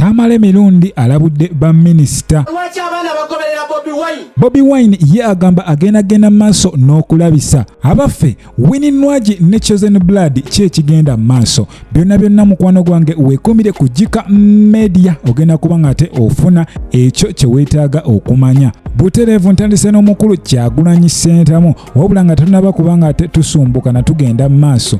Tamale Mirundi alabudde ba minisita. Lwaki abaana bagoberera Bobi Wine? Bobi Wine ye agamba agenda genda maaso n'okulabisa abaffe Winnie Nwagi ne Chosen Blood ki ekigenda maaso. Byonna byonna mukwano gwange weekuumire ku Jika Media ogenda kuba ng'ate ofuna ekyo kye weetaaga okumanya. Butereevu ntandise n'omukulu Kyagulanyi Ssentamu wabula nga tunaba kuba ng'ate tusumbuka na tugenda maaso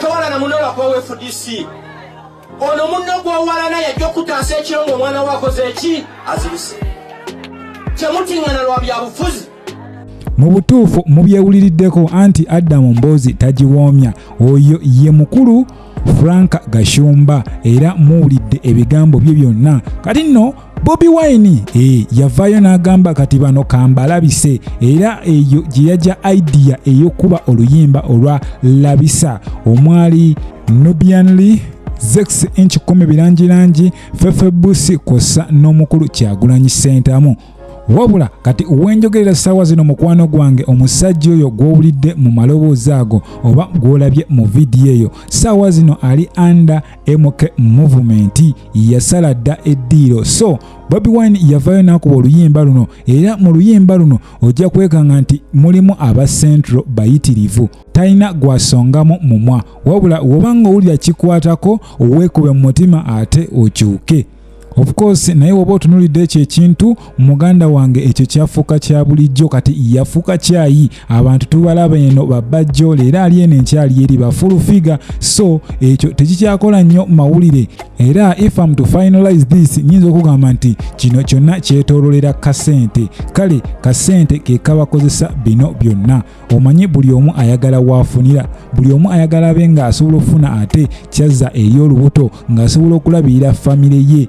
towala na muno lwakubawo fdc ono munno gwowalana yajja okutaasa ekiro ngaomwana we akoze eki azirise kyemutiŋana lwa byabufuzi mu butuufu mubyewuliriddeko anti adamu mboozi tagiwoomya oyo ye mukulu frank gashumba era muwulidde ebigambo bye byonna kati nno bobi wine e, yavaayo n'agamba kati bano kambalabise era eyo gye yajja idea ey'okuba oluyimba olwa labisa omwali nubianly zex inch kumi birangirangi fefebusi kwossa n'omukulu kyagulanyi sentamu wabula kati wenjogerera ssaawa zino mukwano gwange omusajja oyo gw'owulidde mu maloboozi ago oba gw'olabye mu vidiyo eyo ssaawa zino ali under MK Movement yasala dda eddiiro so Bobi Wine yavaayo n'akuba oluyimba luno era mu luyimba luno ojja kwekanga nti mulimu aba Central bayitirivu talina gwasongamu mumwa wabula wobanga owulira kikwatako weekube mu mutima ate okyuke of course naye woba otunulidde ekyo ekintu muganda wange ekyo kyafuuka kya bulijjo kati yafuuka kyayi abantu tubalaba eno babajjo leero ali eno enkyali eri bafulu figa so ekyo tekikyakola nnyo mawulire era if am to finalize this nyinza okugamba nti kino kyonna kyetololera kasente kale kasente kekabakozesa bino byonna omanyi buli omu ayagala waafunira buli omu ayagala abe ng'asobola okufuna ate kyazza eri olubuto ng'asobola okulabirira famire ye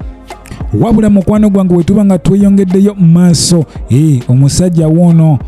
wabula mukwano gwange wetuba nga tweyongeddeyo mu maaso ee eh, omusajja woono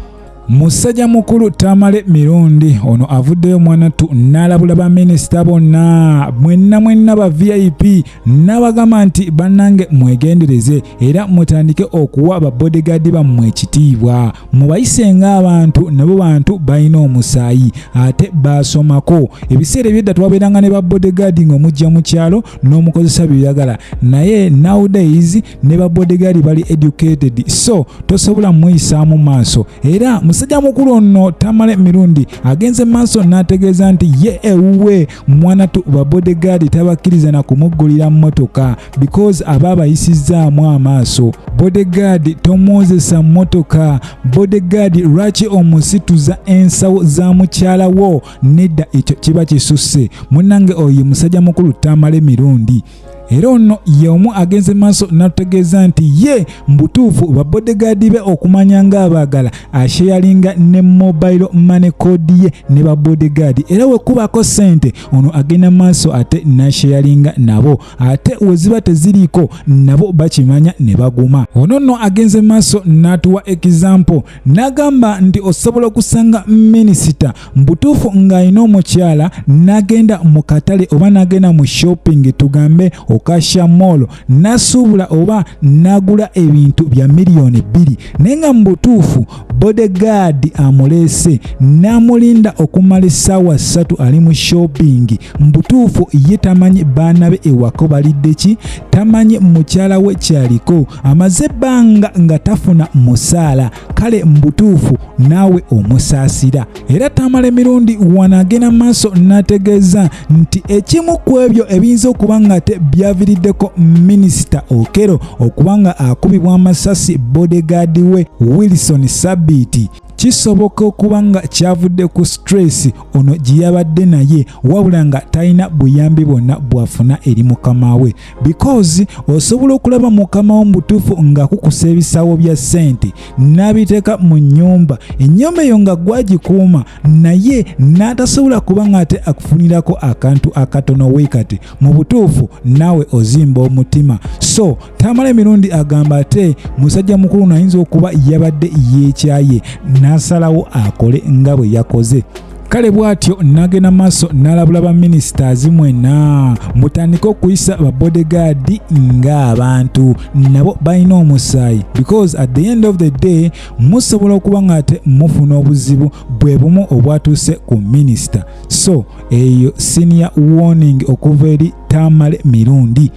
musajja mukulu tamale mirundi ono avuddeyo mwanattu n'alabula baminisita bonna mwenna mwenna ba vip n'abagamba nti bannange mwegendereze era mutandike okuwa babodegaadi bammwe ekitiibwa mubayise ng'abantu nabo bantu balina omusaayi ate baasomako ebiseera ebyedda twabeeranga ne ba bodegaadi ng'omujja mu kyalo n'omukozesa byoyagala naye nowdays ne ba bodegaadi bali educated so tosobola muyisaamu maaso era musajja mukulu ono tamale mirundi agenze maaso n'ategeeza nti ye ewuwe mwanatu ba bodegaadi tabakkiriza na kumuggulira mmotoka because aba abayisizzaamu amaaso bodegaadi tomwozesa mmotoka bodegaadi lwaki omusituza ensawo za mukyala wo nedda ekyo kiba kisusse munange oyo musajja mukulu tamala emirundi era ono ye omu agenze maaso natutegeeza nti ye mubutuufu babodegaadi be okumanya nga abaagala asheyalinga ne mobile money code ye ne babodegaadi era wekubako sente ono agenda maaso ate nasheyalinga nabo ate we ziba teziriiko nabo bakimanya ne baguma ono nno agenze maaso n'atuwa ekizampo n'agamba nti osobola okusanga minisita mbutuufu ng'alina omukyala n'agenda mu katale oba n'agenda mu shopping tugambe okasha moolo n'asuubula oba n'agula ebintu bya miliyoni bbiri naye nga mu butuufu bodegaadi amuleese n'amulinda okumala essaawa ssatu ali mu shoppingi mu butuufu ye tamanyi baana be ewako balidde ki tamanyi mukyala we kyaliko amaze ebbanga nga tafuna musaala kale mu butuufu naawe omusaasira era Tamale emirundi wano agenda maaso n'ategeeza nti ekimu ku ebyo ebiyinza okuba nga te byaviriddeko minisita Okero okuba nga akubibwa amasasi bodegaadi we Wilson Sabiiti kisoboka okuba nga kyavudde ku stress ono gye yabadde naye wabula nga talina buyambi bwonna bw'afuna eri mukama we because osobola okulaba mukama wo mubutuufu ng'akukusa ebisawo bya ssente n'abiteeka mu nnyumba ennyumba eyo nga gwagikuuma naye n'atasobola kuba ng'ate akufunirako akantu akatono weekati mu butuufu naawe ozimba omutima so tamala emirundi agamba ate musajja mukulu nayinza okuba yabadde yeekyaye n'asalawo akole nga bwe yakoze kale bwatyo nagenda maaso nalabula ba ministers mwena mutandike okuyisa ba bodyguard nga abantu nabo balina omusaayi because at the end of the day musobola okuba nga ate mufuna obuzibu bwe bumu obwatuuse ku minister so eyo senior warning okuva eri tamale mirundi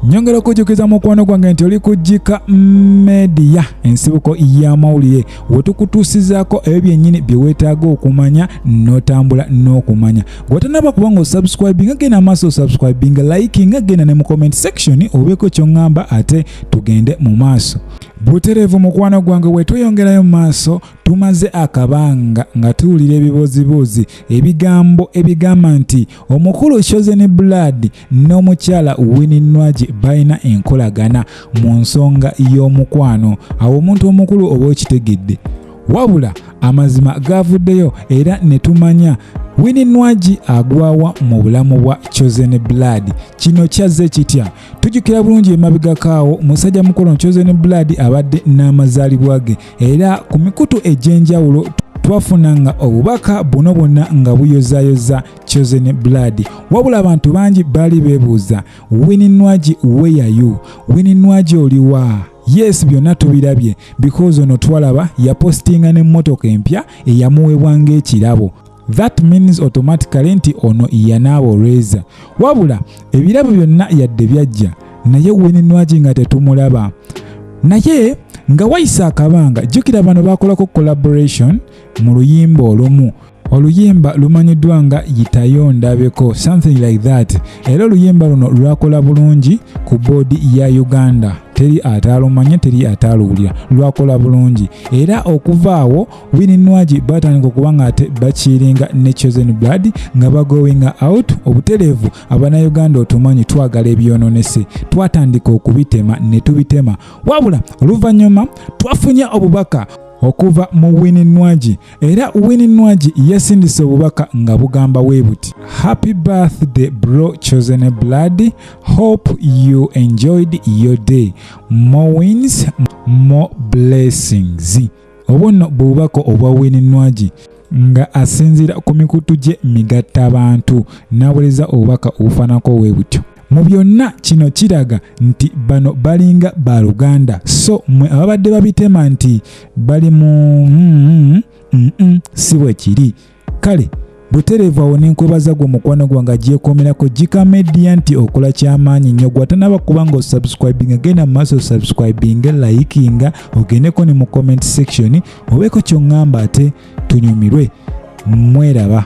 nyongera okujjukiza mukwano gwange nti oli kujjika media ensibuko y'amawulire wetukutuusizaako ebyo byennyini bye weetaaga okumanya n'otambula n'okumanya gwetanaba kuba nga osubscribinga genda amaaso osubscribinga likinga genda ne mu comment section obeeko kyoŋŋamba ate tugende mu maaso butereevu mukwano gwange wetweyongerayo mu maaso tumaze akabanga nga tuwulira ebibooziboozi ebigambo ebigamba nti omukulu chosen blood n'omukyala Winnie Nwagi balina enkolagana mu nsonga y'omukwano awo omuntu omukulu oba okitegedde wabula amazima gaavuddeyo era ne tumanya Winnie Nwagi agwawa mu bulamu bwa Chosen Blood. Kino kyazze kitya? Tujjukira bulungi emabegakaawo musajja mukulu Chosen Blood abadde n'amazaalibwa ge era ku mikutu egy'enjawulo twafunanga obubaka buno bwonna nga buyozayoza chosen blood wabula abantu bangi baali bebuuza wini nwagi weyayu wini nwagi oliwa yes byonna tubirabye because ono twalaba yapostinga n'emmotoka empya eyamuweebwa ng'ekirabo that means automatically nti ono yanaaba olweza wabula ebirabo byonna yadde byajja naye wini nwagi nga tetumulaba naye nga wayise akabanga jjukira bano bakolako collaboration mu luyimba olumu oluyimba lumanyiddwa nga yitayo ndabeko something like that era oluyimba luno lwakola bulungi ku boodi ya uganda teri ataalumanya teri ataaluwulira lwakola bulungi era okuvaawo wininwagi batandika okuba nga ate bakiringa ne chosen blood nga bagoinga out obutereevu abanauganda otumanyi twagala ebyononese twatandika okubitema ne tubitema wabula oluvannyuma twafunye obubaka okuva mu wininwagi era Winnie Nwagi yasindise obubaka nga bugamba we buti happy birthday bro chosen blood hope you enjoyed your day more wins more blessings obwo nno bubaka obwa Winnie Nwagi nga asinziira ku mikutu gye migatta bantu n'awereza obubaka obufaanako we butyo Mu byonna kino kiraga nti bano balinga ba luganda so mwe ababadde babitema nti bali mu mm, mm, mm, si bwe kiri kale butereevu awo nenkwebaza gwe omukwano gwange agyekomerako gika media nti okola kyamaanyi nnyo gwatanaba kuba nga osubscribinga genda mu maaso osubscribinga layikinga ogendeko ne mu comment section obeeko kyoŋŋamba ate tunyumirwe mweraba